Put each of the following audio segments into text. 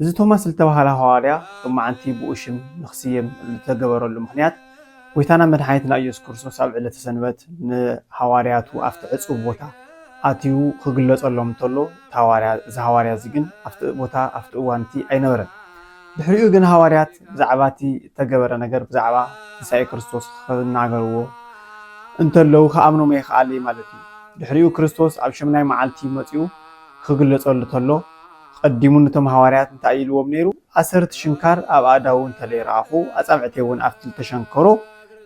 እዚ ቶማስ ዝተባህለ ሃዋርያ ሎማዓንቲ ብኡ ሽም ንክስየም ዝተገበረሉ ምኽንያት ጎይታናን መድሓኒትና ኢየሱስ ክርስቶስ ኣብ ዕለተ ሰንበት ንሃዋርያቱ ኣብቲ ዕጹው ቦታ ኣትዩ ክግለጸሎም እንተሎ እዚ ሃዋርያ እዚ ግን ኣብቲ ቦታ ኣብቲ እዋን እቲ ኣይነበረን። ድሕሪኡ ግን ሃዋርያት ብዛዕባ እቲ እተገበረ ነገር ብዛዕባ ትንሳኤ ክርስቶስ ክናገርዎ እንተለዉ ክኣምኖም ኣይክኣል ማለት እዩ። ድሕሪኡ ክርስቶስ ኣብ ሸምናይ መዓልቲ መጺኡ ክግለጸሉ ተሎ ኣቐዲሙ ነቶም ሃዋርያት እንታይ ኢልዎም ነይሩ? ኣሰርቲ ሽንካር ኣብ ኣእዳዉ እንተ ረኣኹ፣ ኣጻብዕተይውን ኣብቲ እተሸንከሮ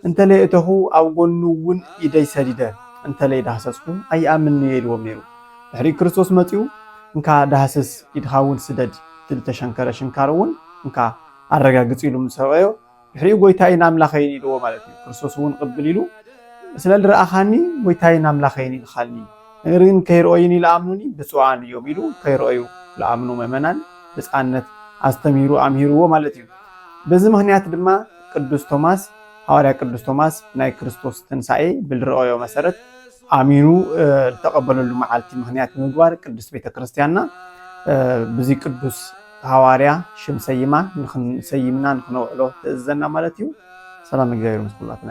እንተ እተኹ፣ ኣብ ጐኑውን ኢደይ ሰዲደ እንተ ደሃሰስኩ፣ ኣይኣምንን'የ ኢልዎም ነይሩ። ድሕሪኡ ክርስቶስ መጺኡ፣ እንካ ዳህስስ፣ ኢድኻውን ስደድ፣ እቲ እተሸንከረ ሽንካርውን እንካ ኣረጋግጽ ኢሉ ምስ ኣርእዮ፣ ድሕሪኡ ጎይታይን ኣምላኸይን ኢልዎ ማለት እዩ። ክርስቶስ እውን ቅብል ኢሉ ስለ ልረኣኻኒ ጎይታይን ኣምላኸይን ኢልኻኒ ነገር ግን ከይርኦይኒ ልኣምኑኒ ብፁዓን እዮም ኢሉ ከይርኦዩ ልኣምኑ ምእመናን ብፃነት ኣስተምሂሩ ኣምሂርዎ ማለት እዩ። በዚ ምክንያት ድማ ቅዱስ ቶማስ ሃዋርያ ቅዱስ ቶማስ ናይ ክርስቶስ ትንሣኤ ብልረኦዮ መሰረት ኣሚኑ ዝተቐበለሉ መዓልቲ ምክንያት ብምግባር ቅዱስ ቤተ ክርስቲያንና ብዚ ቅዱስ ሃዋርያ ሽም ሰይማ ንክንሰይምና ንክነውዕሎ ትእዝዘና ማለት እዩ። ሰላም እግዚኣብሔር ምስ ኩላትና